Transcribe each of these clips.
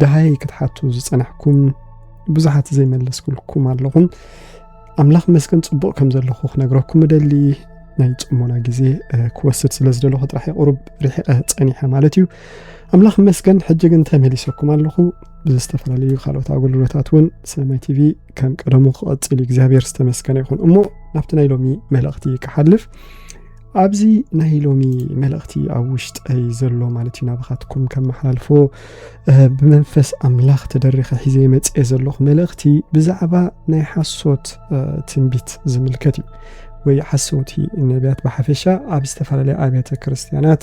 ደሃይ ክትሓቱ ዝጸናሕኩም ብዙሓት ዘይመለስኩልኩም ኣለኹም ኣምላኽ መስገን ጽቡቕ ከም ዘለኹ ክነግረኩም እደሊ ናይ ጽሞና ግዜ ክወስድ ስለ ዝደለኹ ጥራሕ የቕሩብ ርሒቐ ጸኒሐ ማለት እዩ ኣምላኽ መስገን ሕጂ ግን ተመሊሰኩም ኣለኹ ብዝተፈላለዩ ካልኦት ኣገልግሎታት እውን ሰማይ ቲቪ ከም ቀደሙ ክቐጽል እዩ እግዚኣብሔር ዝተመስገነ ይኹን እሞ ናብቲ ናይ ሎሚ መልእኽቲ ክሓልፍ ኣብዚ ናይ ሎሚ መልእኽቲ ኣብ ውሽጠይ ዘሎ ማለት እዩ ናባኻትኩም ከመሓላልፎ ብመንፈስ ኣምላኽ ተደሪኸ ሒዘ መፅኤ ዘለኹ መልእኽቲ ብዛዕባ ናይ ሓሶት ትንቢት ዝምልከት እዩ ወይ ሓሰውቲ ነቢያት ብሓፈሻ ኣብ ዝተፈላለየ ኣብያተ ክርስትያናት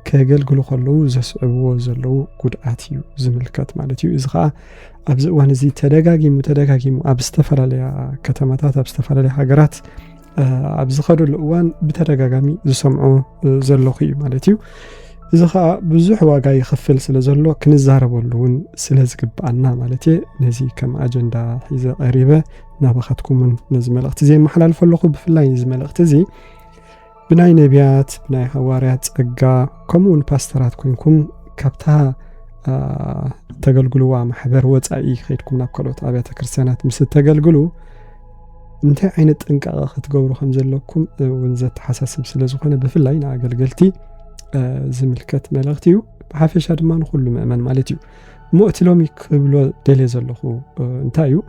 ከገልግሉ ከለዉ ዘስዕብዎ ዘለዉ ጉድኣት እዩ ዝምልከት ማለት እዩ እዚ ከዓ ኣብዚ እዋን እዚ ተደጋጊሙ ተደጋጊሙ ኣብ ዝተፈላለያ ከተማታት ኣብ ዝተፈላለያ ሃገራት ኣብ ዝኸደሉ እዋን ብተደጋጋሚ ዝሰምዖ ዘለኹ እዩ ማለት እዩ እዚ ከዓ ብዙሕ ዋጋ ይኽፍል ስለ ዘሎ ክንዛረበሉ እውን ስለ ዝግብኣና ማለት እየ ነዚ ከም ኣጀንዳ ሒዘ ቀሪበ ናባኻትኩም እውን ነዚ መልእኽቲ እዚ የመሓላልፈ ኣለኹ ብፍላይ እዚ መልእኽቲ እዚ ብናይ ነቢያት ብናይ ሃዋርያት ጸጋ ከምኡ እውን ፓስተራት ኮንኩም ካብታ ተገልግልዋ ማሕበር ወፃኢ ከይድኩም ናብ ካልኦት ኣብያተ ክርስትያናት ምስ እተገልግሉ እንታይ ዓይነት ጥንቃቐ ክትገብሩ ከም ዘለኩም እውን ዘተሓሳስብ ስለ ዝኾነ ብፍላይ ንኣገልገልቲ ዝምልከት መልእኽቲ እዩ ብሓፈሻ ድማ ንኩሉ ምእመን ማለት እዩ እሞ እቲ ሎሚ ክብሎ ደልየ ዘለኹ እንታይ እዩ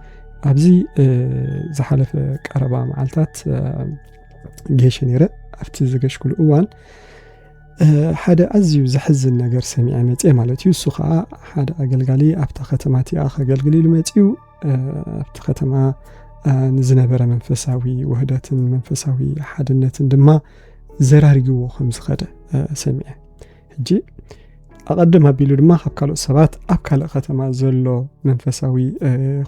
ኣብዚ ዝሓለፈ ቀረባ መዓልታት ጌሸ ነይረ ኣብቲ ዝገሽኩሉ እዋን ሓደ ኣዝዩ ዘሕዝን ነገር ሰሚዐ መፅአ ማለት እዩ እሱ ከዓ ሓደ ኣገልጋሊ ኣብታ ከተማ እቲኣ ከገልግል ኢሉ መፅኡ ኣብቲ ከተማ ንዝነበረ መንፈሳዊ ውህደትን መንፈሳዊ ሓድነትን ድማ ዘራርግዎ ከም ዝኸደ ሰሚዐ ሕጂ ኣቐድም ኣቢሉ ድማ ካብ ካልኦት ሰባት ኣብ ካልእ ከተማ ዘሎ መንፈሳዊ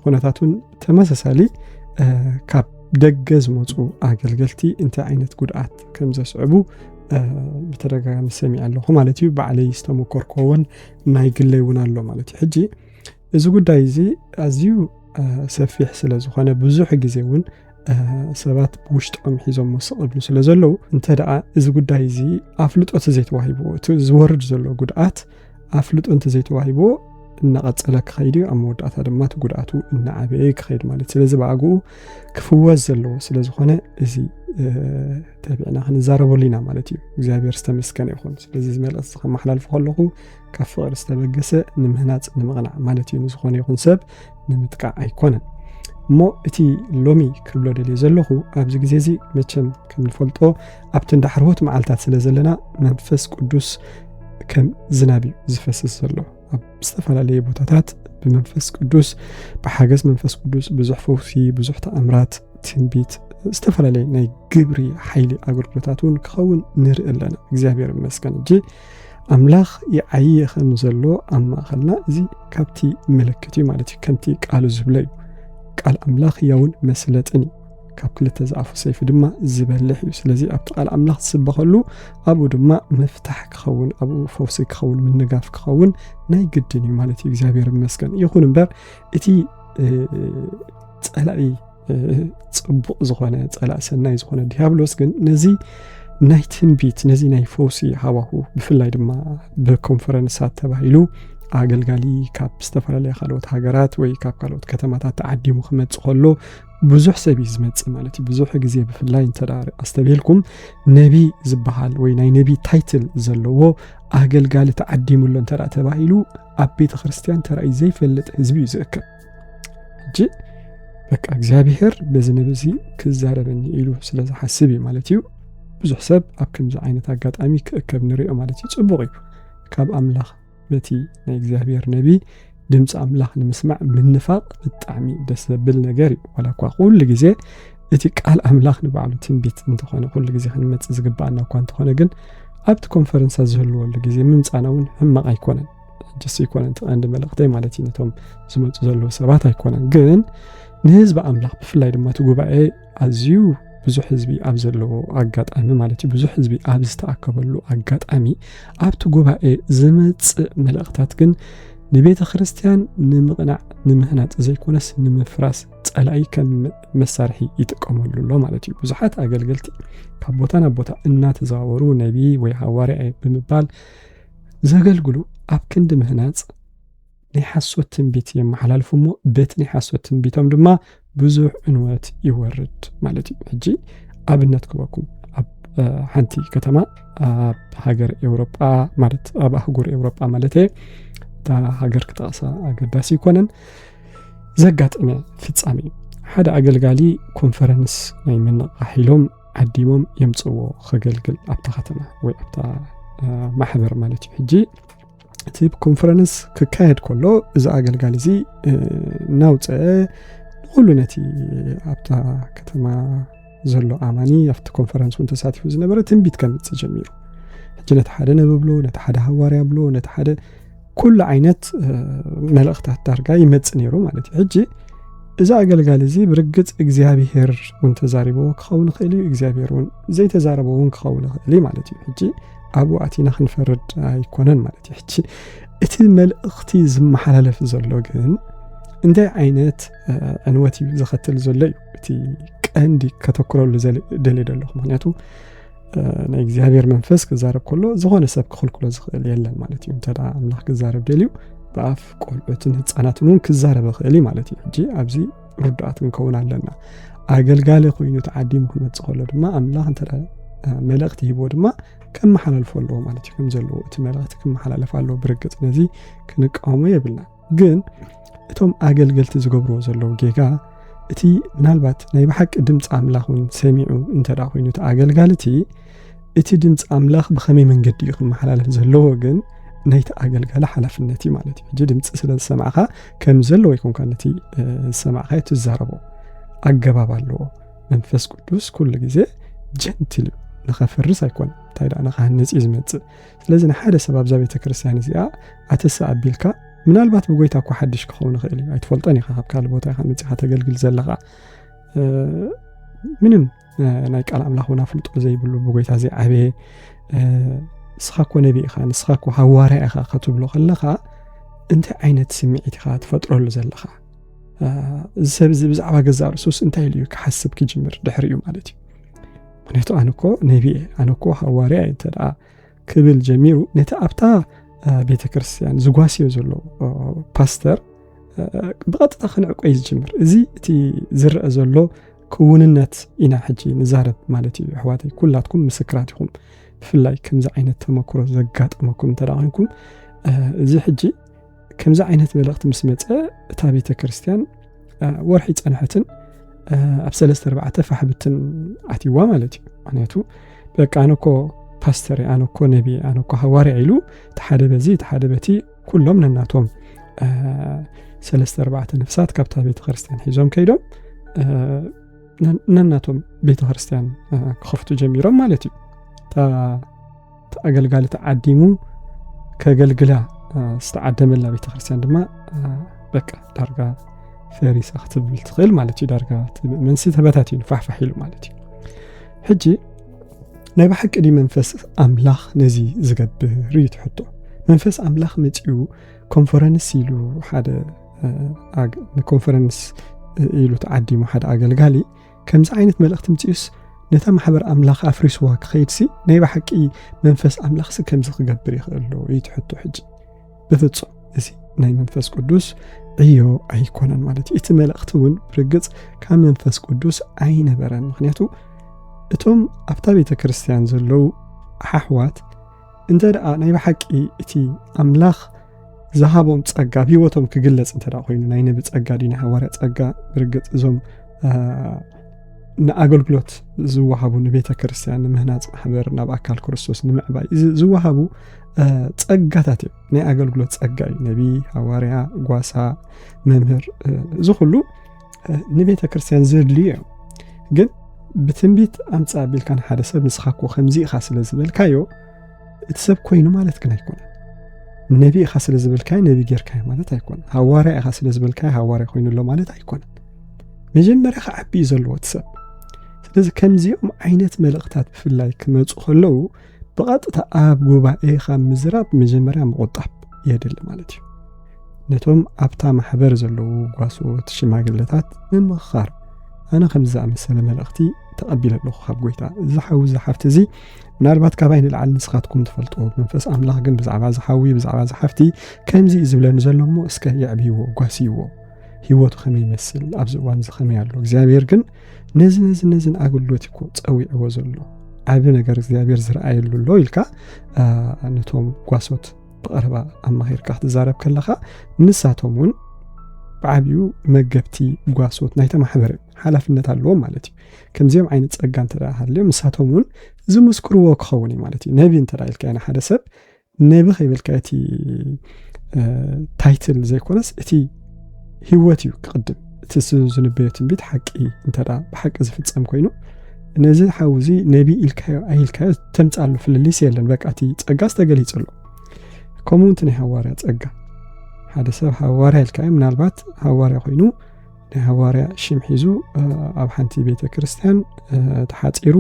ኩነታት እውን ተመሳሳሊ ካብ ደገ ዝመፁ ኣገልገልቲ እንታይ ዓይነት ጉድኣት ከም ዘስዕቡ ብተደጋጋሚ ሰሚዐ ኣለኹ ማለት እዩ ባዕለይ ዝተመኮርኮ እውን ናይ ግለይ እውን ኣሎ ማለት እዩ ሕጂ እዚ ጉዳይ እዚ ኣዝዩ ሰፊሕ ስለ ዝኾነ ብዙሕ ግዜ እውን ሰባት ብውሽጦም ሒዞም ስቕ እብሉ ስለ ዘለዉ እንተ ደኣ እዚ ጉዳይ እዚ ኣፍልጦ ተዘይተዋሂብዎ እቲ ዝወርድ ዘሎ ጉድኣት ኣፍልጦ እንተዘይተዋሂብዎ እናቐፀለ ክኸይድ እዩ ኣብ መወዳእታ ድማ እቲ ጉድኣቱ እናዓበየ ክኸይድ ማለት ስለዚ ብኣግኡ ክፍወስ ዘለዎ ስለ ዝኾነ እዚ ተቢዕና ክንዛረበሉ ኢና ማለት እዩ እግዚኣብሔር ዝተመስገነ ይኹን ስለዚ ዝመልእስ ከመሓላልፎ ከለኹ ካብ ፍቕሪ ዝተበገሰ ንምህናፅ ንምቕናዕ ማለት እዩ ንዝኾነ ይኹን ሰብ ንምጥቃዕ ኣይኮነን እሞ እቲ ሎሚ ክብሎ ደልየ ዘለኹ ኣብዚ ግዜ እዚ መቸም ከም ንፈልጦ ኣብቲ እንዳ ሕርሆት መዓልትታት ስለ ዘለና መንፈስ ቅዱስ ከም ዝናብ እዩ ዝፈስስ ዘሎ ኣብ ዝተፈላለየ ቦታታት ብመንፈስ ቅዱስ ብሓገዝ መንፈስ ቅዱስ ብዙሕ ፈውሲ ብዙሕ ተኣምራት ትንቢት ዝተፈላለየ ናይ ግብሪ ሓይሊ ኣገልግሎታት እውን ክኸውን ንርኢ ኣለና እግዚኣብሔር ይመስገን እጂ ኣምላኽ ይዓዪ ኸም ዘሎ ኣብ ማእኸልና እዚ ካብቲ ምልክት እዩ ማለት እዩ። ከምቲ ቃሉ ዝብሎ እዩ። ቃል ኣምላኽ ያውን መስለጥን እዩ። ካብ ክልተ ዝኣፉ ሰይፊ ድማ ዝበልሕ እዩ። ስለዚ ኣብቲ ቃል ኣምላኽ ዝስበኸሉ ኣብኡ ድማ ምፍታሕ ክኸውን ኣብኡ ፈውሲ ክኸውን ምንጋፍ ክኸውን ናይ ግድን እዩ ማለት እዩ። እግዚኣብሔር ይመስገን። ይኹን እምበር እቲ ጸላኢ ጽቡቕ ዝኾነ ጸላእ ሰናይ ዝኾነ ዲያብሎስ ግን ነዚ ናይ ትንቢት ነዚ ናይ ፈውሲ ሃዋሁ ብፍላይ ድማ ብኮንፈረንሳት ተባሂሉ ኣገልጋሊ ካብ ዝተፈላለያ ካልኦት ሃገራት ወይ ካብ ካልኦት ከተማታት ተዓዲሙ ክመፅእ ከሎ ብዙሕ ሰብ እዩ ዝመፅእ ማለት እዩ ብዙሕ ግዜ ብፍላይ እንተ ኣስተብሂልኩም ነቢ ዝበሃል ወይ ናይ ነቢ ታይትል ዘለዎ ኣገልጋሊ ተዓዲሙሎ እንተ ተባሂሉ ኣብ ቤተ ክርስትያን ተራእዩ ዘይፈልጥ ህዝቢ እዩ ዝእክብ ሕጂ በቃ እግዚኣብሔር በዚ ንብዚ ክዛረበኒ ኢሉ ስለ ዝሓስብ እዩ ማለት እዩ ብዙሕ ሰብ ኣብ ከምዚ ዓይነት ኣጋጣሚ ክእከብ ንሪኦ ማለት እዩ ፅቡቕ እዩ ካብ ኣምላኽ በቲ ናይ እግዚኣብሔር ነቢ ድምፂ ኣምላኽ ንምስማዕ ምንፋቕ ብጣዕሚ ደስ ዘብል ነገር እዩ ዋላ እኳ ኩሉ ግዜ እቲ ቃል ኣምላኽ ንባዕሉ ትንቢት እንተኾነ ኩሉ ግዜ ክንመፅእ ዝግባኣና እኳ እንተኾነ ግን ኣብቲ ኮንፈረንሳ ዝህልወሉ ግዜ ምምፃና እውን ሕማቕ ኣይኮነን ሕጅስ ኣይኮነን እቲ ቀንዲ መልእኽተይ ማለት እዩ ነቶም ዝመፁ ዘለዉ ሰባት ኣይኮነን ግን ንህዝቢ ኣምላኽ ብፍላይ ድማ እቲ ጉባኤ ኣዝዩ ብዙሕ ህዝቢ ኣብ ዘለዎ ኣጋጣሚ ማለት እዩ ብዙሕ ህዝቢ ኣብ ዝተኣከበሉ ኣጋጣሚ ኣብቲ ጉባኤ ዝመፅእ መልእኽታት ግን ንቤተ ክርስቲያን ንምቕናዕ ንምህናፅ ዘይኮነስ ንምፍራስ ፀላኢ ከም መሳርሒ ይጥቀመሉ ኣሎ ማለት እዩ ብዙሓት ኣገልገልቲ ካብ ቦታ ናብ ቦታ እናተዘዋወሩ ነቢ ወይ ሃዋርያ ብምባል ዘገልግሉ ኣብ ክንዲ ምህናጽ ናይ ሓሶት ትንቢት የመሓላልፉ እሞ በቲ ናይ ሓሶት ትንቢቶም ድማ ብዙሕ ዕንወት ይወርድ ማለት እዩ ሕጂ ኣብነት ክበኩም ኣብ ሓንቲ ከተማ ኣብ ሃገር ኤውሮጳ ማለት ኣብ ኣህጉር ኤውሮጳ ማለት እየ እታ ሃገር ክጠቕሳ ኣገዳሲ ይኮነን ዘጋጠመ ፍጻሜ እዩ ሓደ ኣገልጋሊ ኮንፈረንስ ናይ ምንቕቃሕ ኢሎም ዓዲሞም የምፅዎ ከገልግል ኣብታ ከተማ ወይ ኣብታ ማሕበር ማለት እዩ ሕጂ እቲ ኮንፈረንስ ክካየድ ከሎ እዚ ኣገልጋሊ እዚ እናውፀ ንኩሉ ነቲ ኣብታ ከተማ ዘሎ ኣማኒ ኣብቲ ኮንፈረንስ እውን ተሳቲፉ ዝነበረ ትንቢት ከምፅእ ጀሚሩ ሕጂ ነቲ ሓደ ነብብሎ ነቲ ሓደ ሃዋርያ ብሎ ነቲ ሓደ ኩሉ ዓይነት መልእኽታት ዳርጋ ይመጽእ ነይሩ ማለት እዩ ሕጂ እዚ ኣገልጋሊ እዚ ብርግጽ እግዚኣብሄር እውን ተዛሪብዎ ክኸውን ይኽእል እዩ እግዚኣብሄር እውን ዘይተዛረበ እውን ክኸውን ይኽእል እዩ ማለት እዩ ሕጂ ኣብኡ ኣቲና ክንፈርድ ኣይኮነን ማለት እዩ ሕጂ እቲ መልእኽቲ ዝመሓላለፍ ዘሎ ግን እንታይ ዓይነት ዕንወት እዩ ዘኸትል ዘሎ እዩ እቲ ቀንዲ ከተክረሉ ደልየ ደለኹ ምክንያቱ ናይ እግዚኣብሔር መንፈስ ክዛረብ ከሎ ዝኾነ ሰብ ክኽልክሎ ዝኽእል የለን ማለት እዩ እንተ ኣምላኽ ክዛረብ ደልዩ ብኣፍ ቆልዑትን ህፃናትን እውን ክዛረብ ይኽእል እዩ ማለት እዩ ሕጂ ኣብዚ ርዱኣት ክንከውን ኣለና ኣገልጋሊ ኮይኑ ተዓዲሙ ክመፅእ ከሎ ድማ ኣምላኽ እንተ መልእኽቲ ሂቦ ድማ ከመሓላልፎ ኣለዎ ማለት እዩ ከም ዘለዎ እቲ መልእኽቲ ክመሓላለፍ ኣለዎ ብርግፅ ነዚ ክንቃወሞ የብልና ግን እቶም ኣገልገልቲ ዝገብርዎ ዘለዉ ጌጋ እቲ ምናልባት ናይ ብሓቂ ድምፂ ኣምላኽ እውን ሰሚዑ እንተ ኮይኑ እቲ ኣገልጋሊ እቲ እቲ ድምፂ ኣምላኽ ብኸመይ መንገዲ እዩ ክመሓላለፍ ዘለዎ ግን ናይቲ ኣገልጋሊ ሓላፍነት እዩ ማለት እዩ ሕጂ ድምፂ ስለ ዝሰማዕኻ ከም ዘለዎ ይኮንካ ነቲ ዝሰማዕኻ ትዛረቦ ኣገባብ ኣለዎ መንፈስ ቅዱስ ኩሉ ግዜ ጀንትል እዩ ንኸፍርስ ኣይኮነ እንታይ ደኣ ንኸሃንፅ እዩ ዝመፅእ ስለዚ ንሓደ ሰብ ኣብዛ ቤተ ክርስቲያን እዚኣ ኣተስ ኣቢልካ ምናልባት ብጎይታ እኳ ሓድሽ ክኸውን ይኽእል እዩ ኣይትፈልጦን ኢኻ ካብ ካልእ ቦታ ኢኻ መፅኻ ተገልግል ዘለኻ ምንም ናይ ቃል ኣምላኽ እውን ኣፍልጦ ዘይብሉ ብጎይታ ዘይዓበየ ንስኻ እኮ ነቢ ኢኻ ንስኻ እኮ ሃዋርያ ኢኻ ከትብሎ ከለኻ እንታይ ዓይነት ስምዒት ኢኻ ትፈጥረሉ ዘለኻ እዚ ሰብ እዚ ብዛዕባ ገዛ ርእሱስ እንታይ ኢሉ እዩ ክሓስብ ክጅምር ድሕሪ እዩ ማለት እዩ ምክንያቱ ኣነ እኮ ነቢ እየ ኣነ እኮ ሃዋርያ እየ እንተ ክብል ጀሚሩ ነቲ ኣብታ ቤተ ክርስትያን ዝጓስዮ ዘሎ ፓስተር ብቐጥታ ክንዕቆ እዩ ዝጅምር እዚ እቲ ዝርአ ዘሎ ክውንነት ኢና ሕጂ ንዛረብ ማለት እዩ ኣሕዋተይ ኩላትኩም ምስክራት ኢኹም ብፍላይ ከምዚ ዓይነት ተመክሮ ዘጋጠመኩም እንተ ኮይንኩም እዚ ሕጂ ከምዚ ዓይነት መልእኽቲ ምስ መፀ እታ ቤተ ክርስቲያን ወርሒ ፀንሐትን ኣብ ሰለስተ ኣርባዕተ ፋሕብትን ኣትይዋ ማለት እዩ ምክንያቱ በቃ ኣነ ኮ ፓስተር ኣነ ኮ ነቢ ኣነ ኮ ሃዋርያ ኢሉ ተሓደ በዚ ተሓደ በቲ ኩሎም ነናቶም ሰለስተ ኣርባዕተ ነፍሳት ካብታ ቤተ ክርስቲያን ሒዞም ከይዶም ነናቶም ቤተ ክርስቲያን ክኸፍቱ ጀሚሮም ማለት እዩ ኣገልጋሊ ተዓዲሙ ከገልግላ ዝተዓደመላ ቤተ ክርስቲያን ድማ በቃ ዳርጋ ፈሪሳ ክትብል ትኽእል ማለት እዩ ዳርጋ መንሲ ተበታትዩ ፋሕፋሕ ኢሉ ማለት እዩ ሕጂ ናይ ብሓቂ ድዩ መንፈስ ኣምላኽ ነዚ ዝገብር እዩ ትሕቶ መንፈስ ኣምላኽ መፅኡ ኮንፈረንስ ኢሉ ሓደ ንኮንፈረንስ ኢሉ ተዓዲሙ ሓደ ኣገልጋሊ ከምዚ ዓይነት መልእኽቲ ምጺኡስ ነታ ማሕበር ኣምላኽ ኣፍሪስዋ ክኸይድሲ ናይ ብሓቂ መንፈስ ኣምላኽሲ ከምዚ ክገብር ይኽእል ዶ እዩ ትሕቶ ሕጂ ብፍጹም እዚ ናይ መንፈስ ቅዱስ ዕዮ ኣይኮነን ማለት እዩ እቲ መልእኽቲ እውን ብርግጽ ካብ መንፈስ ቅዱስ ኣይነበረን ምክንያቱ እቶም ኣብታ ቤተ ክርስትያን ዘለዉ ኣሓሕዋት እንተ ደኣ ናይ ብሓቂ እቲ ኣምላኽ ዝሃቦም ጸጋ ኣብ ህይወቶም ክግለጽ እንተ ኮይኑ ናይ ነቢ ጸጋ ድዩ ናይ ሃዋርያ ጸጋ ብርግጽ እዞም ንኣገልግሎት ዝወሃቡ ንቤተ ክርስትያን ንምህናፅ ማሕበር ናብ ኣካል ክርስቶስ ንምዕባይ ዝወሃቡ ጸጋታት እዮም ናይ ኣገልግሎት ጸጋ እዩ ነቢ ሃዋርያ ጓሳ መምህር እዚ ኩሉ ንቤተ ክርስትያን ዘድልዩ እዮም ግን ብትንቢት ኣምፃ ቢልካ ንሓደ ሰብ ንስኻ ኮ ከምዚ ኢኻ ስለ ዝበልካዮ እቲ ሰብ ኮይኑ ማለት ግን ኣይኮነን ነቢ ኢኻ ስለ ዝበልካዮ ነቢ ጌርካዮ ማለት ኣይኮነን ሃዋርያ ኢኻ ስለ ዝበልካዮ ሃዋርያ ኮይኑ ኣሎ ማለት ኣይኮነን መጀመርያ ክዓቢ እዩ ዘለዎ እቲ ሰብ ስለዚ ከምዚኦም ዓይነት መልእኽታት ብፍላይ ክመፁ ከለዉ ብቐጥታ ኣብ ጉባኤ ካብ ምዝራብ መጀመርያ ምቑጣብ የድሊ ማለት እዩ ነቶም ኣብታ ማሕበር ዘለዉ ጓሶት ሽማግለታት ምምኽኻር ኣነ ከምዚ ዝኣመሰለ መልእኽቲ ተቐቢለ ኣለኹ ካብ ጎይታ እዚ ሓዊ እዚ ሓፍቲ እዚ ምናልባት ካባይ ንላዕሊ ንስኻትኩም ትፈልጥዎ መንፈስ ኣምላኽ ግን ብዛዕባ ዝሓዊ ብዛዕባ ዝሓፍቲ ከምዚ እዩ ዝብለኒ ዘሎ እሞ እስከ የዕብይዎ ጓስይዎ ህይወቱ ከመይ ይመስል ኣብዚ እዋን እዚ ከመይ ኣሎ እግዚኣብሔር ግን ነዚ ነዚ ነዚን ኣገልግሎት ይኮ ፀዊዕዎ ዘሎ ዓብ ነገር እግዚኣብሔር ዝረኣየሉ ኣሎ ኢልካ ነቶም ጓሶት ብቐረባ ኣማኺርካ ክትዛረብ ከለኻ ንሳቶም እውን ብዓብኡ መገብቲ ጓሶት ናይተ ማሕበረ ሓላፍነት ኣለዎም ማለት እዩ ከምዚኦም ዓይነት ጸጋ እንተ ሃልዮም ንሳቶም እውን ዝምስክርዎ ክኸውን እዩ ማለት እዩ ነቢ እንተ ኢልካዮ ንሓደ ሰብ ነቢ ከይበልካዮ እቲ ታይትል ዘይኮነስ እቲ ህይወት እዩ ክቕድም እቲ ዝንበዮ ትንቢት ሓቂ እንተ ብሓቂ ዝፍጸም ኮይኑ ነዚ ሓው እዚ ነቢ ኢልካዮ ኣይልካዮ ተምፃሉ ፍልልይሲ የለን በቃ እቲ ጸጋ ዝተገሊጹ ኣሎ ከምኡ እቲ ናይ ሃዋርያ ጸጋ ሓደ ሰብ ሃዋርያ ኢልካዮ ምናልባት ሃዋርያ ኮይኑ ናይ ሃዋርያ ሽም ሒዙ ኣብ ሓንቲ ቤተ ክርስትያን ተሓፂሩ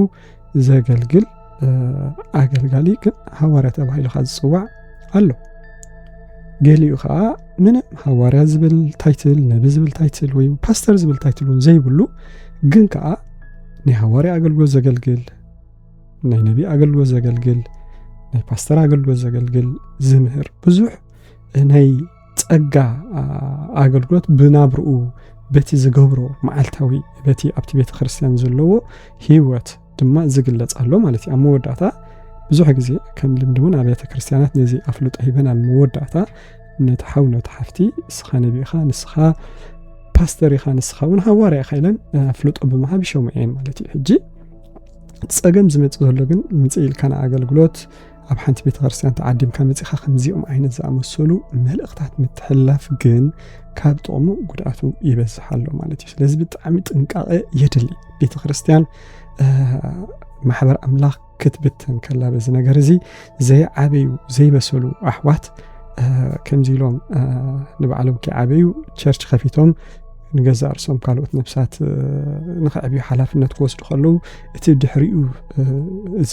ዘገልግል ኣገልጋሊ ግን ሃዋርያ ተባሂሉ ካ ዝፅዋዕ ኣሎ ገሊኡ ከዓ ምንም ሃዋርያ ዝብል ታይትል ነቢ ዝብል ታይትል ወይ ፓስተር ዝብል ታይትል እውን ዘይብሉ ግን ከዓ ናይ ሃዋርያ ኣገልግሎት ዘገልግል ናይ ነቢ ኣገልግሎት ዘገልግል ናይ ፓስተር ኣገልግሎት ዘገልግል ዝምህር ብዙሕ ናይ ጸጋ ኣገልግሎት ብናብርኡ በቲ ዝገብሮ መዓልታዊ በቲ ኣብቲ ቤተ ክርስቲያን ዘለዎ ህይወት ድማ ዝግለጽ ኣሎ ማለት እዩ ኣብ መወዳእታ ብዙሕ ግዜ ከም ልምዲ እውን ኣብያተ ክርስቲያናት ነዚ ኣፍልጦ ሂበን ኣብ መወዳእታ ነቲ ሓው ነቲ ሓፍቲ ንስኻ ነቢ ኢኻ ንስኻ ፓስተር ኢኻ ንስኻ እውን ሃዋርያ ኢኻ ኢለን ኣፍልጦ ብምሃብ ይሸሙ እየን ማለት እዩ ሕጂ ፀገም ዝመፅእ ዘሎ ግን ምፅእ ኢልካ ንኣገልግሎት ኣብ ሓንቲ ቤተ ክርስቲያን ተዓዲምካ መጺኻ ከምዚኦም ዓይነት ዝኣመሰሉ መልእኽታት ምትሕላፍ ግን ካብ ጥቕሙ ጉድኣቱ ይበዝሕ ኣሎ ማለት እዩ ስለዚ ብጣዕሚ ጥንቃቐ የድሊ ቤተ ክርስቲያን ማሕበር ኣምላኽ ክትብተን ከላ በዚ ነገር እዚ ዘይዓበዩ ዘይበሰሉ ኣሕዋት ከምዚ ኢሎም ንባዕሎም ከይዓበዩ ቸርች ከፊቶም ንገዛእ ርሶም ካልኦት ነብሳት ንክዕብዩ ሓላፍነት ክወስዱ ከለዉ እቲ ድሕሪኡ እዚ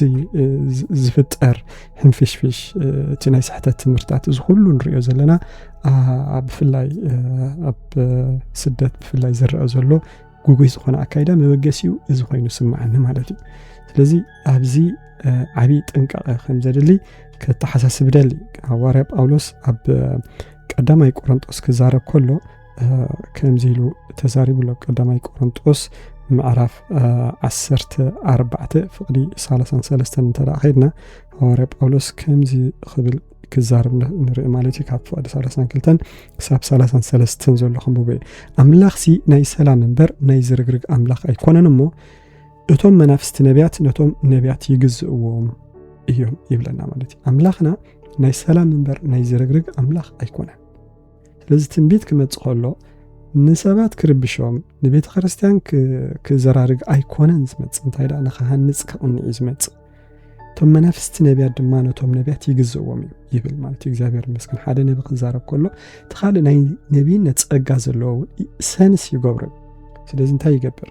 ዝፍጠር ሕንፍሽፍሽ እቲ ናይ ስሕተት ትምህርታት እዚ ኩሉ ንሪኦ ዘለና ብፍላይ ኣብ ስደት ብፍላይ ዝረአ ዘሎ ጉጉይ ዝኾነ ኣካይዳ መበገሲኡ እዚ ኮይኑ ስምዓኒ ማለት እዩ ስለዚ ኣብዚ ዓብዪ ጥንቃቐ ከም ዘድሊ ከተሓሳስብ ደሊ ሃዋርያ ጳውሎስ ኣብ ቀዳማይ ቆሮንጦስ ክዛረብ ከሎ ከምዚ ኢሉ ተዛሪቡ ኣሎ ቀዳማይ ቆሮንጦስ ምዕራፍ ዓሰርተ ኣርባዕተ ፍቕዲ ሳላሳን ሰለስተን እንተ ከድና ሃዋርያ ጳውሎስ ከምዚ ክብል ክዛርብ ንርኢ ማለት እዩ ካብ ፍቕዲ ሳላሳን ክልተን ክሳብ ሳላሳን ሰለስተን ዘሎ ክንብቦ እዩ ኣምላኽሲ ናይ ሰላም እምበር ናይ ዝርግርግ ኣምላኽ ኣይኮነን እሞ እቶም መናፍስቲ ነቢያት ነቶም ነቢያት ይግዝእዎም እዮም ይብለና ማለት እዩ ኣምላኽና ናይ ሰላም እምበር ናይ ዝርግርግ ኣምላኽ ኣይኮነን ስለዚ ትንቢት ክመጽእ ከሎ ንሰባት ክርብሾም ንቤተ ክርስቲያን ክዘራርግ ኣይኮነን ዝመጽእ እንታይ ደኣ ንክሃንጽ ክቕንዕ እዩ ዝመጽእ እቶም መናፍስቲ ነቢያት ድማ ነቶም ነቢያት ይግዝእዎም እዩ ይብል ማለት እዩ እግዚኣብሔር መስክን ሓደ ነቢ ክዛረብ ከሎ እቲ ካልእ ናይ ነቢይነት ጸጋ ዘለዎ ሰንስ ይገብሩ ስለዚ እንታይ ይገብር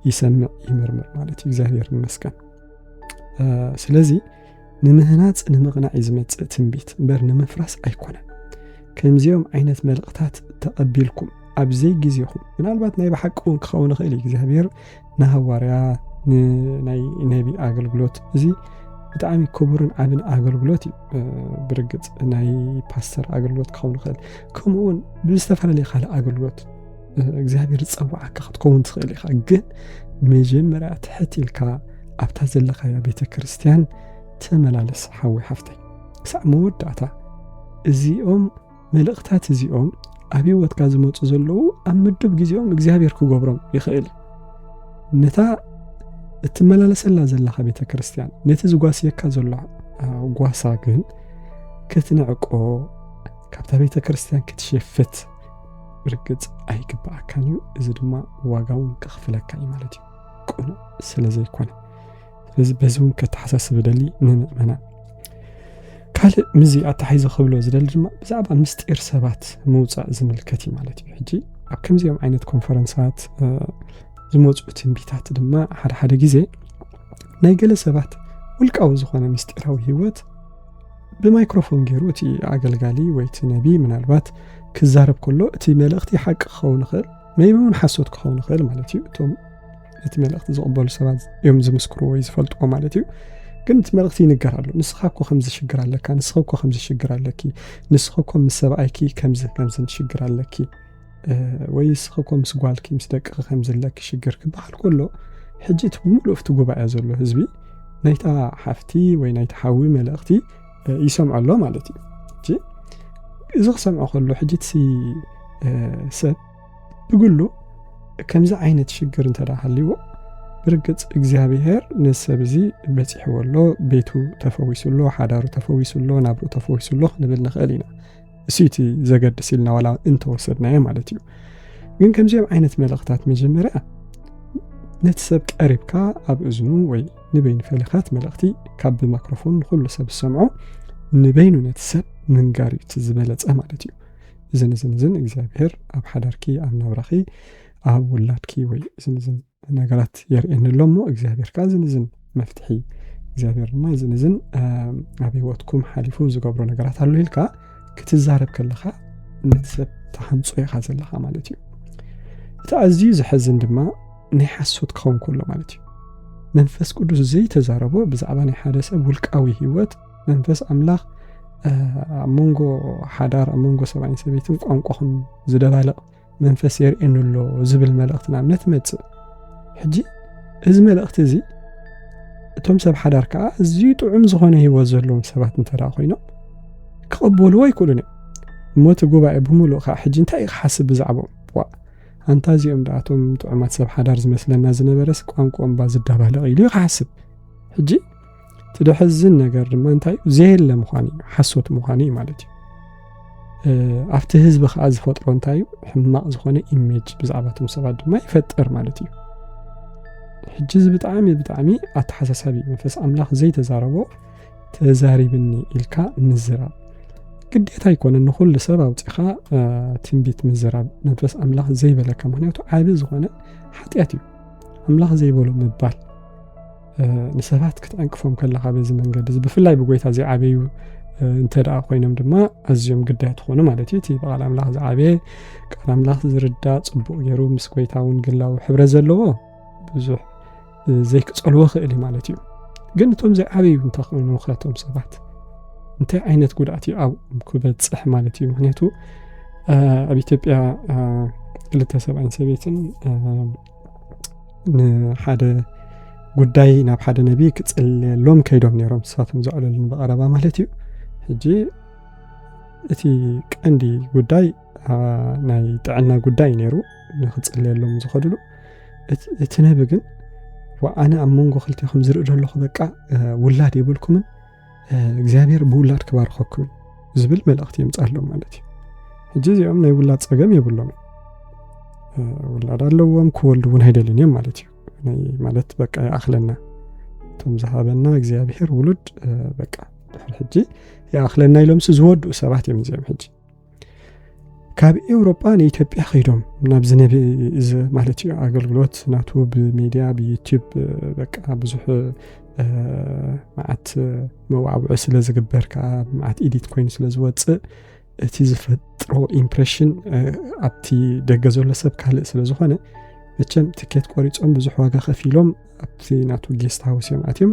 ይሰምዕ ይምርምር ማለት እዩ እግዚኣብሔር መስከን ስለዚ ንምህናጽ ንምቕናዕ እዩ ዝመጽእ ትንቢት እምበር ንምፍራስ ኣይኮነን ከምዚኦም ዓይነት መልእኽታት ተቐቢልኩም ኣብ ዘይ ግዜኹም ምናልባት ናይ ብሓቂ እውን ክኸውን ይኽእል እዩ እግዚኣብሔር ንሃዋርያ ንናይ ነቢ ኣገልግሎት እዚ ብጣዕሚ ክቡርን ዓብን ኣገልግሎት እዩ ብርግፅ ናይ ፓስተር ኣገልግሎት ክኸውን ይኽእል ከምኡውን ብዝተፈላለየ ካልእ ኣገልግሎት እግዚኣብሔር ዝፀዋዓካ ክትከውን ትኽእል ኢኻ ግን መጀመርያ ትሕት ኢልካ ኣብታ ዘለኻያ ቤተ ክርስቲያን ተመላለስ ሓዊ ሓፍተይ ክሳዕ መወዳእታ እዚኦም መልእኽታት እዚኦም ኣብ ህይወትካ ዝመፁ ዘለዉ ኣብ ምዱብ ግዜኦም እግዚኣብሔር ክገብሮም ይኽእል ነታ እትመላለሰላ ዘለኻ ቤተ ክርስቲያን ነቲ ዝጓስየካ ዘሎ ጓሳ ግን ክትንዕቆ ካብታ ቤተ ክርስቲያን ክትሸፍት ብርግጽ ኣይግብኣካን እዩ፣ እዚ ድማ ዋጋ እውን ከኽፍለካ እዩ ማለት እዩ፣ ቅኑዕ ስለ ዘይኮነ። ስለዚ በዚ እውን ከተሓሳስብ ደሊ ንምእመና ካልእ ምዚ ኣታሓይዘ ክብሎ ዝደሊ ድማ ብዛዕባ ምስጢር ሰባት ምውፃእ ዝምልከት እዩ ማለት እዩ። ሕጂ ኣብ ከምዚኦም ዓይነት ኮንፈረንሳት ዝመፁ ትንቢታት ድማ ሓደ ሓደ ግዜ ናይ ገለ ሰባት ውልቃዊ ዝኾነ ምስጢራዊ ህይወት ብማይክሮፎን ገይሩ እቲ ኣገልጋሊ ወይ እቲ ነቢ ምናልባት ክዛረብ ከሎ እቲ መልእኽቲ ሓቂ ክኸውን ይኽእል መይቢ እውን ሓሶት ክኸውን ይኽእል ማለት እዩ እቶም ነቲ መልእኽቲ ዝቕበሉ ሰባት እዮም ዝምስክሩ ወይ ዝፈልጥዎ ማለት እዩ ግን እቲ መልእኽቲ ይንገር ኣሎ ንስኻ እኮ ከምዚ ሽግር ኣለካ ንስኻ እኮ ከምዚ ሽግር ኣለኪ ንስኻ እኮ ምስ ሰብኣይኪ ከምዚ ከምዝን ሽግር ኣለኪ ወይ ንስኺ እኮ ምስ ጓልኪ ምስ ደቅኺ ከም ዘለኪ ሽግር ክበሃል ከሎ ሕጂ እቲ ብምሉእ እቲ ጉባኤ ዘሎ ህዝቢ ናይታ ሓፍቲ ወይ ናይቲ ሓዊ መልእኽቲ ይሰምዖ ኣሎ ማለት እዩ እጂ እዚ ክሰምዖ ከሎ ሕጂ እቲ ሰብ ብግሉ ከምዚ ዓይነት ሽግር እንተ ሃልይዎ ብርግፅ እግዚኣብሄር ነዚ ሰብ እዚ በፂሕዎ ኣሎ ቤቱ ተፈዊሱ ኣሎ ሓዳሩ ተፈዊሱ ኣሎ ናብርኡ ተፈዊሱ ኣሎ ክንብል ንኽእል ኢና እሱይቲ ዘገድስ ኢልና ዋላ እንተወሰድናዮ ማለት እዩ ግን ከምዚኦም ዓይነት መልእኽታት መጀመርያ ነቲ ሰብ ቀሪብካ ኣብ እዝኑ ወይ ንበይኑ ፈሊኻት መልእኽቲ ካብ ብማክሮፎን ንኩሉ ሰብ ዝሰምዖ ንበይኑ ነቲ ሰብ ምንጋር እዩ እቲ ዝበለፀ ማለት እዩ እዝን እዝን እዝን እግዚኣብሄር ኣብ ሓዳርኪ ኣብ ናብራኺ ኣብ ውላድኪ ወይ እዝን እዝን ነገራት የርእየኒ ኣሎ እሞ እግዚኣብሔር ከዓ ዝንዝን መፍትሒ እግዚኣብሔር ድማ ዝንዝን ኣብ ህይወትኩም ሓሊፉ ዝገብሮ ነገራት ኣሎ ኢልካ ክትዛረብ ከለኻ ነቲ ሰብ ተሃንፆ ኢኻ ዘለኻ ማለት እዩ እቲ ኣዝዩ ዘሐዝን ድማ ናይ ሓሶት ክኸውን ከሎ ማለት እዩ መንፈስ ቅዱስ ዘይተዛረቦ ብዛዕባ ናይ ሓደ ሰብ ውልቃዊ ህይወት መንፈስ ኣምላኽ ኣብ መንጎ ሓዳር ኣብ መንጎ ሰብኣይን ሰበይትን ቋንቋኹም ዝደባልቕ መንፈስ የርእየኒ ኣሎ ዝብል መልእኽቲ ናብ እምነት ይመጽእ ሕጂ እዚ መልእኽቲ እዚ እቶም ሰብ ሓዳር ከዓ እዝዩ ጥዑም ዝኾነ ህይወት ዘለዎም ሰባት እንተ ኮይኖም ክቐበልዎ ኣይክእሉን እዮም እሞ እቲ ጉባኤ ብምሉእ ከዓ ሕጂ እንታይ እዩ ክሓስብ ብዛዕባኦም ዋ ኣንታ እዚኦም ደኣቶም ጥዑማት ሰብ ሓዳር ዝመስለና ዝነበረስ ቋንቋኦም ባ ዝዳባለቕ ኢሉ እዩ ክሓስብ ሕጂ እቲ ደሕዝን ነገር ድማ እንታይ እዩ ዘየለ ምዃን እዩ ሓሶት ምዃን እዩ ማለት እዩ ኣብቲ ህዝቢ ከዓ ዝፈጥሮ እንታይ እዩ ሕማቕ ዝኾነ ኢሜጅ ብዛዕባ እቶም ሰባት ድማ ይፈጥር ማለት እዩ ሕጂ እዚ ብጣዕሚ ብጣዕሚ ኣተሓሳሳቢ መንፈስ ኣምላኽ ዘይተዛረቦ ተዛሪብኒ ኢልካ ምዝራብ ግዴታ ኣይኮነን ንኩሉ ሰብ ኣውፂኻ ትንቢት ምዝራብ መንፈስ ኣምላኽ ዘይበለካ ምክንያቱ ዓቢ ዝኾነ ሓጢኣት እዩ ኣምላኽ ዘይበሎ ምባል ንሰባት ክትዕንቅፎም ከለኻ በዚ መንገዲ እዚ ብፍላይ ብጎይታ ዘይዓበዩ እንተ ደኣ ኮይኖም ድማ ኣዝዮም ግዳይ ትኾኑ ማለት እዩ እቲ ብቃል ኣምላኽ ዝዓበየ ቃል ኣምላኽ ዝርዳ ፅቡቅ ገይሩ ምስ ጎይታ እውን ግላዊ ሕብረ ዘለዎ ብዙሕ ዘይክፀልዎ ክእል እዩ ማለት እዩ ግን እቶም ዘይዓበዩ እንተኮይኑ ከቶም ሰባት እንታይ ዓይነት ጉድኣት እዩ ኣብ ክበፅሕ ማለት እዩ ምክንያቱ ኣብ ኢትዮጵያ ክልተ ሰብኣይን ሰበይትን ንሓደ ጉዳይ ናብ ሓደ ነቢ ክጽልየሎም ከይዶም ነይሮም ንሳቶም ዘዕለሉን ብቐረባ ማለት እዩ ሕጂ እቲ ቀንዲ ጉዳይ ናይ ጥዕና ጉዳይ ነይሩ ንክጽልየሎም ዝኸድሉ እቲ ነቢ ግን ኣነ ኣብ መንጎ ክልቲኹም ዝርኢ ዘለኹ በቃ ውላድ የብልኩምን እግዚኣብሔር ብውላድ ክባርኸኩም ዝብል መልእኽቲ የምፃሎም ማለት እዩ ሕጂ እዚኦም ናይ ውላድ ፀገም የብሎም ውላድ ኣለዎም ክወልዱ እውን ኣይደልን እዮም ማለት እዩ ማለት በቃ ይኣኽለና እቶም ዝሃበና እግዚኣብሔር ውሉድ በቃ ድሕሪ ሕጂ ይኣኽለና ኢሎምሲ ዝወድኡ ሰባት እዮም እዚኦም ሕጂ ካብ ኤውሮጳ ንኢትዮጵያ ከይዶም ናብዚ ነቢ እዚ ማለት እዩ ኣገልግሎት ናቱ ብሚድያ ብዩቲብ በቃ ብዙሕ መዓት መዋዕውዒ ስለ ዝግበር ከዓ መዓት ኢዲት ኮይኑ ስለ ዝወፅእ እቲ ዝፈጥሮ ኢምፕሬሽን ኣብቲ ደገ ዘሎ ሰብ ካልእ ስለ ዝኾነ መቸም ትኬት ቆሪፆም ብዙሕ ዋጋ ከፊሎም ኣብቲ ናቱ ጌስት ሃውስ እዮም ኣትዮም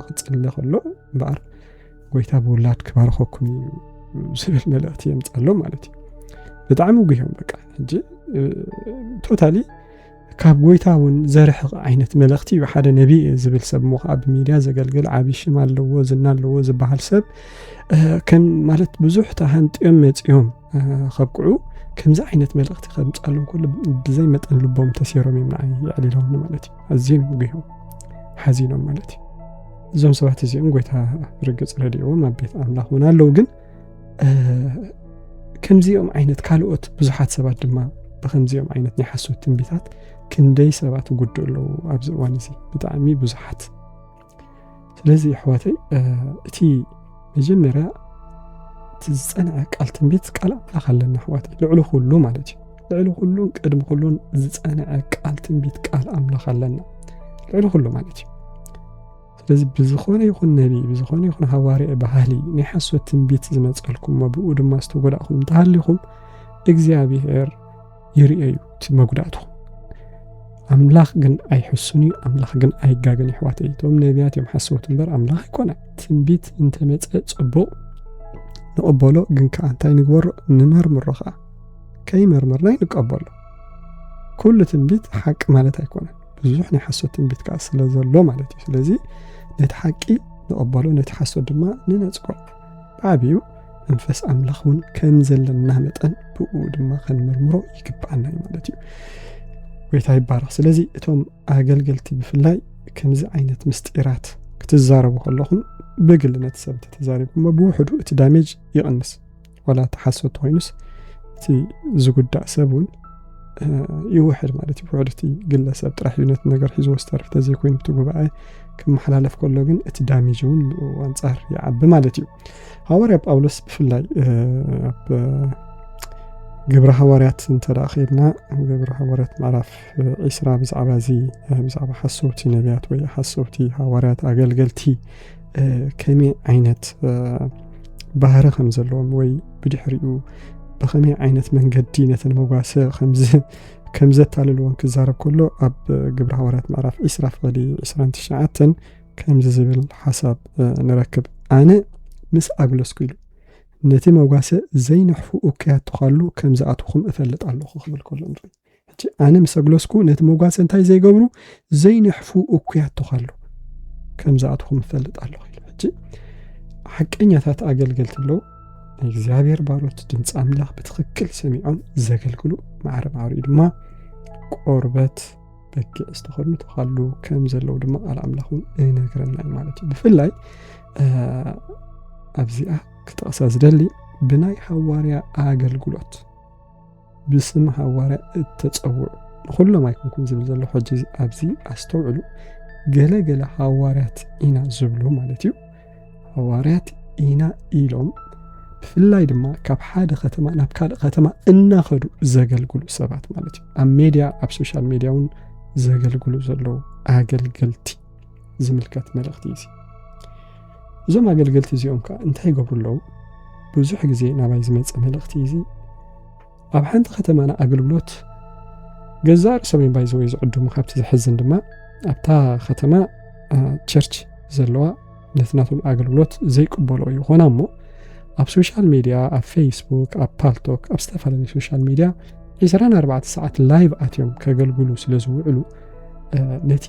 ክፅለ ከሎ እምበኣር ጎይታ ብውላድ ክባርኸኩም እዩ ዝብል መልእኽቲ የምፃሎም ማለት እዩ ብጣዕሚ ጉዮም በቃ ሕጂ ቶታሊ ካብ ጎይታ እውን ዘርሕቕ ዓይነት መልእኽቲ እዩ ሓደ ነቢ ዝብል ሰብ ሞ ከዓ ብሚድያ ዘገልግል ዓብዪ ሽም ኣለዎ ዝና ኣለዎ ዝበሃል ሰብ ከም ማለት ብዙሕ ተሃንጥዮም መፅዮም ከብቅዑ ከምዚ ዓይነት መልእኽቲ ከምፃሉ ከሎ ብዘይ መጠን ልቦም ተሴሮም እዮም ንዓይ የዕሊሎም ማለት እዩ ኣዝዮም ጉሆም ሓዚኖም ማለት እዩ እዞም ሰባት እዚኦም ጎይታ ርግፅ ረድእዎም ኣብ ቤት ኣምላኽ እውን ኣለዉ ግን ከምዚኦም ዓይነት ካልኦት ብዙሓት ሰባት ድማ ብከምዚኦም ዓይነት ናይ ሓሶት ትንቢታት ክንደይ ሰባት ጉድእ ኣለዉ ኣብዚ እዋን እዚ ብጣዕሚ ብዙሓት ስለዚ ኣሕዋተይ እቲ መጀመርያ እቲ ዝፀንዐ ቃል ትንቢት ቃል ኣምላኽ ኣለና ኣሕዋተይ ልዕሊ ኩሉ ማለት እዩ ልዕሊ ኩሉን ቅድሚ ኩሉን ዝፀንዐ ቃል ትንቢት ቃል ኣምላኽ ኣለና ልዕሊ ኩሉ ማለት እዩ ስለዚ ብዝኾነ ይኹን ነቢ ብዝኾነ ይኹን ሃዋርያ ባህሊ ናይ ሓሶት ትንቢት ዝመፀልኩም ብኡ ድማ ዝተጎዳእኹም እንተሃሊኹም እግዚኣብሔር ይርኤ እዩ እቲ መጉዳእቱ ኣምላኽ ግን ኣይሕሱን እዩ ኣምላኽ ግን ኣይጋግን ይሕዋት እቶም ነቢያት እዮም ሓሰውት እምበር ኣምላኽ ኣይኮነ ትንቢት እንተመፀ ፅቡቕ ንቕበሎ ግን ከዓ እንታይ ንግበሮ ንመርምሮ ከዓ ከይመርመርና ንቀበሎ ኩሉ ትንቢት ሓቂ ማለት ኣይኮነን ብዙሕ ናይ ሓሶት ትንቢት ከዓ ስለ ዘሎ ማለት እዩ ስለዚ ነቲ ሓቂ ንቐበሎ ነቲ ሓሶት ድማ ንነፅጎ ብዓብዩ መንፈስ ኣምላኽ እውን ከም ዘለና መጠን ብኡ ድማ ከንምርምሮ ይግብኣና እዩ ማለት እዩ ጎይታ ይባረኽ ስለዚ እቶም ኣገልገልቲ ብፍላይ ከምዚ ዓይነት ምስጢራት ክትዛረቡ ከለኹም ብግል ነቲ ሰብ ተተዛሪብኩሞ ብውሕዱ እቲ ዳሜጅ ይቕንስ ዋላ እቲ ሓሶት ኮይኑስ እቲ ዝጉዳእ ሰብ እውን ይውሕድ ማለት እዩ ውሕድ እቲ ግለሰብ ጥራሕ እዩ ነቲ ነገር ሒዝዎ ዝተርፍ ተዘይኮይኑ እቲ ጉባኤ ክመሓላለፍ ከሎ ግን እቲ ዳሜጅ እውን ኣንጻር ይዓቢ ማለት እዩ ሃዋርያ ጳውሎስ ብፍላይ ኣብ ግብረ ሃዋርያት እንተ ከድና ግብረ ሃዋርያት ምዕራፍ ዒስራ ብዛዕባ እዚ ብዛዕባ ሓሰውቲ ነቢያት ወይ ሓሰውቲ ሃዋርያት ኣገልገልቲ ከመይ ዓይነት ባህሪ ከም ዘለዎም ወይ ብድሕሪኡ ብከመይ ዓይነት መንገዲ ነተን መጓሰ ከም ዘታልልዎን ክዛረብ ከሎ ኣብ ግብረ ሃዋርያት ምዕራፍ 2 ፍቕዲ 29 ከምዚ ዝብል ሓሳብ ንረክብ ኣነ ምስ ኣግለስኩ ኢሉ ነቲ መጓሰ ዘይንሕፉ እከያቱ ካሉ ከም ዝኣትኹም እፈልጥ ኣለኹ ክብል ከሎ ንርኢ ሕጂ ኣነ ምስ ኣግለስኩ ነቲ መጓሰ እንታይ ዘይገብሩ ዘይነሕፉ እኩያት ተዃሉ ከም ዝኣትኹም እፈልጥ ኣለኹ ኢሉ ሕጂ ሓቀኛታት ኣገልገልቲ ኣለዉ ናይ እግዚኣብሔር ባሮት ድምፂ ኣምላኽ ብትኽክል ሰሚዖም ዘገልግሉ ማዕረ ማዕሪኡ ድማ ቆርበት በጊዕ ዝተኸድኑ ተኻሉ ከም ዘለዉ ድማ ቃል ኣምላኽ እውን እነግረና እዩ ማለት እዩ ብፍላይ ኣብዚኣ ክጠቕሳ ዝደሊ ብናይ ሃዋርያ ኣገልግሎት ብስም ሃዋርያ እተጸውዑ ንኹሎም ኣይኮንኩን ዝብል ዘሎ ሕጂ ኣብዚ ኣስተውዕሉ ገለ ገለ ሃዋርያት ኢና ዝብሉ ማለት እዩ ሃዋርያት ኢና ኢሎም ብፍላይ ድማ ካብ ሓደ ከተማ ናብ ካልእ ከተማ እናኸዱ ዘገልግሉ ሰባት ማለት እዩ ኣብ ሜድያ ኣብ ሶሻል ሜድያ እውን ዘገልግሉ ዘለዉ ኣገልገልቲ ዝምልከት መልእኽቲ እዩ እዞም ኣገልገልቲ እዚኦም ከ እንታይ ይገብሩ ኣለዉ? ብዙሕ ግዜ ናባይ ዝመጸ መልእኽቲ እዚ ኣብ ሓንቲ ከተማና ኣገልግሎት ገዛእ ርእሶም እዮም ባይዘወይ ዝዕድሙ ካብቲ ዘሕዝን ድማ ኣብታ ከተማ ቸርች ዘለዋ ነቲ ናቶም ኣገልግሎት ዘይቅበሎ እዩ ኾና እሞ ኣብ ሶሻል ሚድያ ኣብ ፌስቡክ ኣብ ፓልቶክ ኣብ ዝተፈላለዩ ሶሻል ሚድያ 24 ሰዓት ላይቭ ኣትዮም ከገልግሉ ስለ ዝውዕሉ ነቲ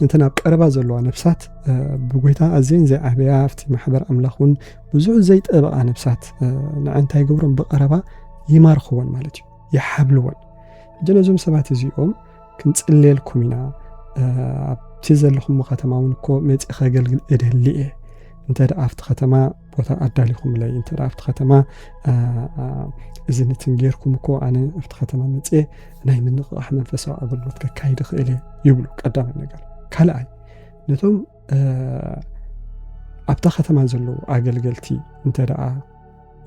እንተን ኣብ ቀረባ ዘለዋ ነፍሳት ብጎይታ ኣዘን ዘይዓበያ ኣብቲ ማሕበር ኣምላኽ እውን ብዙሕ ዘይጠበቓ ነፍሳት ንዐ እንታይ ገብሮም ብቐረባ ይማርኽወን ማለት እዩ ይሓብልወን ሕጂ ነዞም ሰባት እዚኦም ክንጽልየልኩም ኢና ኣብቲ ዘለኹም ከተማ እውን እኮ መፂ ከገልግል እደሊ እየ እንተ ኣብቲ ከተማ ቦታ ኣዳሊኹምለይ እንተ ኣብቲ ከተማ እዚ ነትን ጌርኩም እኮ ኣነ ኣብቲ ከተማ መፅ ናይ ምንቕቓሕ መንፈሳዊ ኣገልግሎት ከካይድ ኽእል ይብሉ ቀዳማይ ነገር ካልኣይ ነቶም ኣብታ ከተማ ዘለዉ ኣገልገልቲ እንተ ደኣ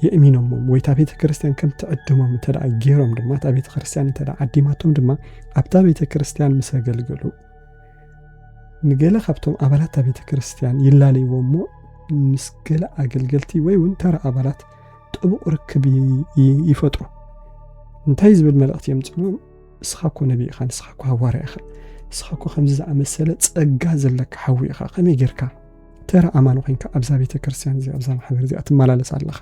የእሚኖሞም ወይ እታ ቤተ ክርስትያን ከም ትዕድሞም እንተ ገይሮም ድማ እታ ቤተ ክርስትያን እንተ ዓዲማቶም ድማ ኣብታ ቤተ ክርስትያን ምስ ኣገልገሉ ንገለ ካብቶም ኣባላት ቤተ ክርስቲያን ይላለይዎ እሞ ምስ ገለ ኣገልገልቲ ወይ እውን ተራ ኣባላት ጥቡቕ ርክብ ይፈጥሩ እንታይ ዝብል መልእኽቲ የምፅእሎም ንስኻ እኮ ነቢ ኢኻ ንስኻ እኮ ሃዋርያ ኢኻ ንስኻ እኮ ከምዚ ዝኣመሰለ ጸጋ ዘለካ ሓዊ ኢኻ ከመይ ጌርካ ተራ ኣማኒ ኮንካ ኣብዛ ቤተ ክርስቲያን እዚ ኣብዛ ማሕበር እዚኣ ትመላለስ ኣለኻ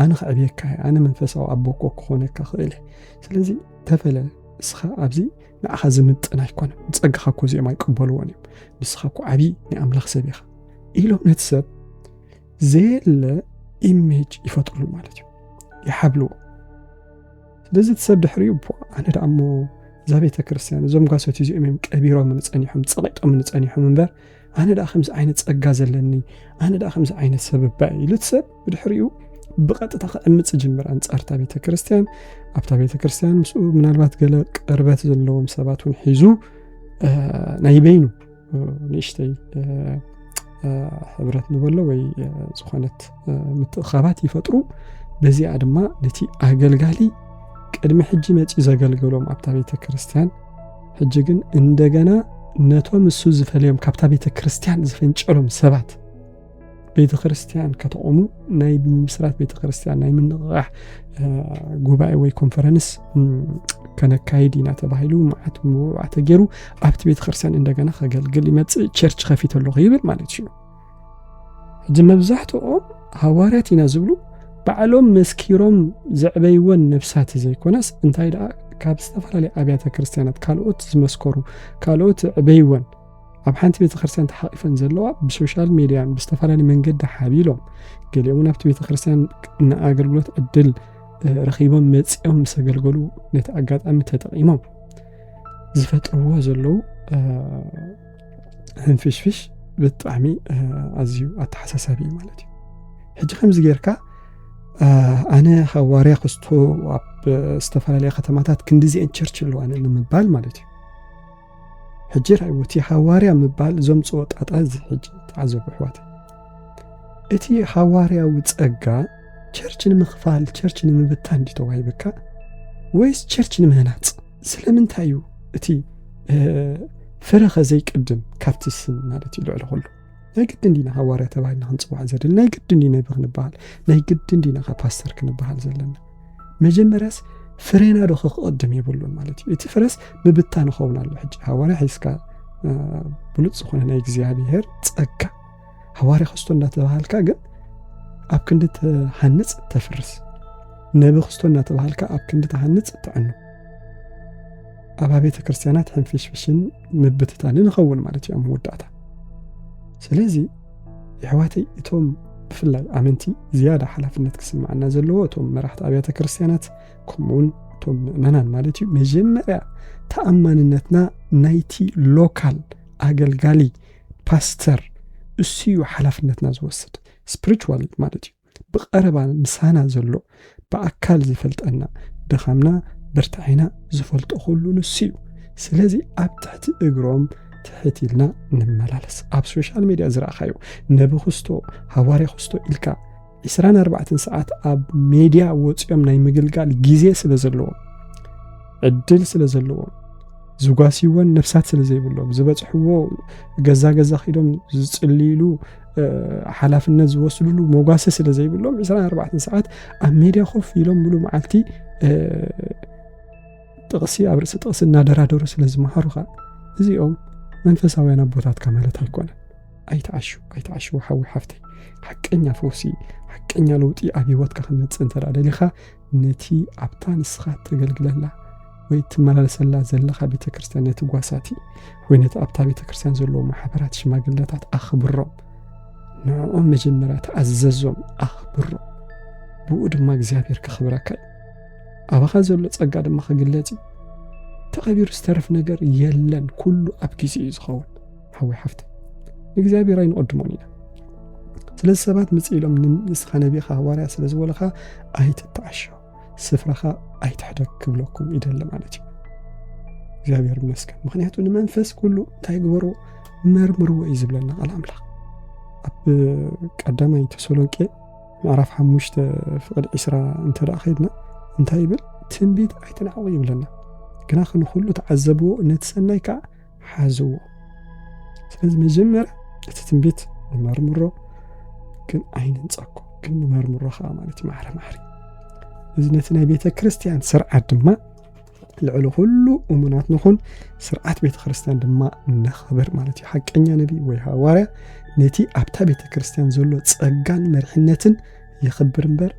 ኣነ ክዕብየካ ኣነ መንፈሳዊ ኣቦኮ ክኾነካ ክእል ስለዚ ተፈለ ንስኻ ኣብዚ ንኣኻ ዝምጥን ኣይኮነን ንጸጋኻ እኮ እዚኦም ኣይቅበልዎን እዮም ንስኻ እኮ ዓብዪ ናይ ኣምላኽ ሰብ ኢኻ ኢሎም ነቲ ሰብ ዘየለ ኢሜጅ ይፈጥሩ ማለት እዩ ይሓብልዎ ስለዚ እቲ ሰብ ድሕሪኡ ኣነ ደኣ እሞ እዛ ቤተ ክርስትያን እዞም ጓሶት እዚኦም እዮም ቀቢሮም ንፀኒሖም ፀቂጦም ንፀኒሖም እምበር ኣነ ደኣ ከምዚ ዓይነት ፀጋ ዘለኒ ኣነ ደኣ ከምዚ ዓይነት ሰብ እባ ኢሉ እቲ ሰብ ብድሕሪኡ ብቐጥታ ክዕምፅ ጅምር ኣንጻርታ ቤተ ክርስቲያን ኣብታ ቤተ ክርስቲያን ምስኡ ምናልባት ገለ ቅርበት ዘለዎም ሰባት እውን ሒዙ ናይ በይኑ ንእሽተይ ሕብረት ንበሎ ወይ ዝኾነት ምትእኻባት ይፈጥሩ በዚኣ ድማ ነቲ ኣገልጋሊ ቅድሚ ሕጂ መፂ ዘገልገሎም ኣብታ ቤተ ክርስቲያን ሕጂ ግን እንደገና ነቶም እሱ ዝፈልዮም ካብታ ቤተ ክርስቲያን ዝፈንጨሎም ሰባት ቤተ ክርስቲያን ከተቑሙ ናይ ብምስራት ቤተ ክርስቲያን ናይ ምንቕቓሕ ጉባኤ ወይ ኮንፈረንስ ከነካይድ ኢና ተባሂሉ መዓት ምውዕዋ ተገይሩ ኣብቲ ቤተ ክርስቲያን እንደገና ከገልግል ይመፅእ ቸርች ከፊት ኣለኹ ይብል ማለት እዩ ሕጂ መብዛሕትኦም ሃዋርያት ኢና ዝብሉ ባዕሎም መስኪሮም ዘዕበይወን ነብሳት ዘይኮነስ እንታይ ደኣ ካብ ዝተፈላለየ ኣብያተ ክርስቲያናት ካልኦት ዝመስከሩ ካልኦት ዕበይወን ኣብ ሓንቲ ቤተ ክርስቲያን ተሓቂፈን ዘለዋ ብሶሻል ሚድያን ብዝተፈላለዩ መንገዲ ሓቢሎም ገሊኦም ናብቲ ቤተ ክርስቲያን ንኣገልግሎት ዕድል ረኺቦም መፂኦም ምስ ኣገልገሉ ነቲ ኣጋጣሚ ተጠቂሞም ዝፈጥርዎ ዘለዉ ህንፍሽፍሽ ብጣዕሚ ኣዝዩ ኣተሓሳሳቢ እዩ ማለት እዩ ሕጂ ከምዚ ጌርካ ኣነ ካብ ዋርያ ክስቶ ኣብ ዝተፈላለያ ከተማታት ክንዲዚአን ቸርች ኣለዋነ ንምባል ማለት እዩ ሕጂ ራእይዎ እቲ ሃዋርያ ምባል ዘምጽኦ ጣጣ እዚ ሕጂ ተዓዘቡ ኣሕዋተይ እቲ ሃዋርያዊ ጸጋ ቸርች ንምኽፋል ቸርች ንምብታን ድዩ ተዋሂብካ ወይስ ቸርች ንምህናጽ ስለምንታይ እዩ እቲ ፍረኸ ዘይቅድም ካብቲ ስም ማለት እዩ ልዕሊ ኩሉ ናይ ግድን ዲና ሃዋርያ ተባሂልና ክንፅዋዕ ዘለና ናይ ግድን ዲና ይብ ክንበሃል ናይ ግድን ዲና ካብ ፓስተር ክንበሃል ዘለና መጀመርያስ ፍሬና ዶ ክቕድም የብሉን ማለት እዩ እቲ ፍረስ ምብታን ንኸውን ኣሎ ሕጂ ሃዋርያ ሒዝካ ብሉፅ ዝኾነ ናይ እግዚኣብሄር ፀጋ ሃዋርያ ክስቶ እንዳተባሃልካ ግን ኣብ ክንዲ ትሃንፅ ተፍርስ ነቢ ክስቶ እናተባሃልካ ኣብ ክንዲ ትሃንፅ ትዕኑ ኣብ ቤተ ክርስቲያናት ሕንፍሽፍሽን ምብትታን ንኸውን ማለት እዩ ኣብ መወዳእታ ስለዚ የሕዋተይ እቶም ብፍላይ ኣመንቲ ዝያዳ ሓላፍነት ክስምዓና ዘለዎ እቶም መራሕቲ ኣብያተ ክርስትያናት ከምኡውን እቶም ምእመናን ማለት እዩ መጀመርያ ተኣማንነትና ናይቲ ሎካል ኣገልጋሊ ፓስተር እሱ እዩ ሓላፍነትና ዝወስድ ስፕሪቹዋል ማለት እዩ ብቐረባ ምሳና ዘሎ ብኣካል ዝፈልጠና ድኻምና ብርታዔና ዝፈልጦ ኩሉ ንሱ እዩ ስለዚ ኣብ ትሕቲ እግሮም ትሕት ኢልና ንመላለስ ኣብ ሶሻል ሜድያ ዝረእኻዮ ነቢ ክስቶ ሃዋርያ ክስቶ ኢልካ 24 ሰዓት ኣብ ሜድያ ወፂኦም ናይ ምግልጋል ግዜ ስለ ዘለዎም ዕድል ስለ ዘለዎም ዝጓስይዎን ነፍሳት ስለ ዘይብሎም ዝበፅሕዎ ገዛ ገዛ ኪዶም ዝፅልይሉ ሓላፍነት ዝወስድሉ መጓሰ ስለ ዘይብሎም 24 ሰዓት ኣብ ሜድያ ኮፍ ኢሎም ሙሉ መዓልቲ ጥቕሲ ኣብ ርእሲ ጥቕሲ እናደራደሩ ስለ ዝመሃሩኻ እዚኦም መንፈሳውያን ኣቦታትካ ማለት ኣይኮነ ኣይትዓሹ ኣይትዓሹ ሓዊ ሓፍተይ ሓቀኛ ፈውሲ ሓቀኛ ለውጢ ኣብ ሂወትካ ክመፅእ እንተ ደሊኻ ነቲ ኣብታ ንስኻ እተገልግለላ ወይ እትመላለሰላ ዘለኻ ቤተ ክርስቲያን ነቲ ጓሳቲ ወይ ነቲ ኣብታ ቤተ ክርስቲያን ዘለዎ ማሕበራት ሽማግለታት ኣኽብሮም ንዕኦም መጀመርያ ተኣዘዞም ኣኽብሮም ብኡ ድማ እግዚኣብሔር ክኽብረካ እዩ ኣባኻ ዘሎ ጸጋ ድማ ክግለጽ እዩ ተቐቢሩ ዝተርፍ ነገር የለን ኩሉ ኣብ ግዜ እዩ ዝኸውን ሓዊ ሓፍቲ ንእግዚኣብሔር ኣይንቐድሞን ኢና ስለዚ ሰባት ምፅ ኢሎም ንስኻ ነቢኻ ሃዋርያ ስለ ዝበለኻ ኣይትተዓሾ ስፍራኻ ኣይትሕደግ ክብለኩም ይደሊ ማለት እዩ እግዚኣብሔር ይመስገን ምክንያቱ ንመንፈስ ኩሉ እንታይ ግበሩ መርምርዎ እዩ ዝብለና ቃል ኣምላኽ ኣብ ቀዳማይ ተሰሎንቄ ምዕራፍ ሓሙሽተ ፍቅድ ዒስራ እንተ ከይድና እንታይ ይብል ትንቢት ኣይትናዕቑ ይብለና ግና ክንኩሉ ተዓዘብዎ ነቲ ሰናይ ከዓ ሓዝዎ። ስለዚ መጀመርያ እቲ ትንቢት ንመርምሮ፣ ግን ኣይንንጸኮ፣ ግን ንመርምሮ ከዓ ማለት እዩ ማዕረ ማዕሪ። እዚ ነቲ ናይ ቤተ ክርስቲያን ስርዓት ድማ ልዕሊ ኩሉ እሙናት ንኹን፣ ስርዓት ቤተ ክርስቲያን ድማ ነኽብር ማለት እዩ። ሓቀኛ ነቢ ወይ ሃዋርያ ነቲ ኣብታ ቤተ ክርስቲያን ዘሎ ጸጋን መርሕነትን የኽብር እምበር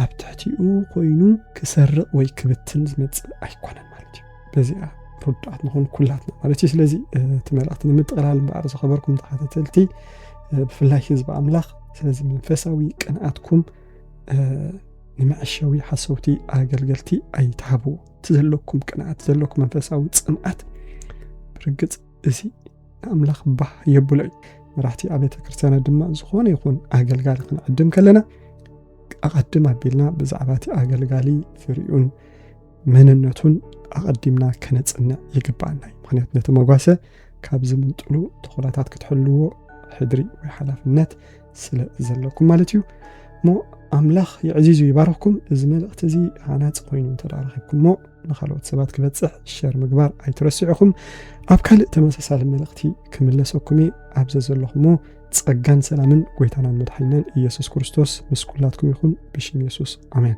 ኣብ ትሕቲኡ ኮይኑ ክሰርቕ ወይ ክብትን ዝመጽእ ኣይኮነን ማለት እዩ። በዚኣ ርዱዓት ንኾን ኩላትና ማለት እዩ ስለዚ እቲ መልእኽቲ ንምጥቕላል እምበኣር ዝኸበርኩም ተኸታተልቲ ብፍላይ ህዝቢ ኣምላኽ ስለዚ መንፈሳዊ ቅንኣትኩም ንመዐሸዊ ሓሰውቲ ኣገልገልቲ ኣይትሃቡ እቲ ዘለኩም ቅንኣት ዘለኩም መንፈሳዊ ፅምኣት ብርግፅ እዚ ንኣምላኽ ባህ የብሎ እዩ መራሕቲ ኣብያተ ክርስትያናት ድማ ዝኾነ ይኹን ኣገልጋሊ ክንዕድም ከለና ኣቐድም ኣቢልና ብዛዕባ እቲ ኣገልጋሊ ፍሪኡን መንነቱን ኣቐዲምና ከነጽንዕ ይግባኣና እዩ ምክንያቱ ነቲ መጓሰ ካብ ዝምንጥሉ ተኾላታት ክትሕልዎ ሕድሪ ወይ ሓላፍነት ስለ ዘለኩም ማለት እዩ እሞ ኣምላኽ የዕዚዙ ይባረኽኩም እዚ መልእኽቲ እዚ ሃናፂ ኮይኑ እንተዳረኺብኩምሞ ንካልኦት ሰባት ክበፅሕ ሸር ምግባር ኣይትረስዑኹም ኣብ ካልእ ተመሳሳሊ መልእኽቲ ክምለሰኩም እየ ኣብዘ ዘለኹሞ ጸጋን ሰላምን ጎይታናን መድሓይናን ኢየሱስ ክርስቶስ ምስ ኩላትኩም ይኹን ብሽም የሱስ ኣሜን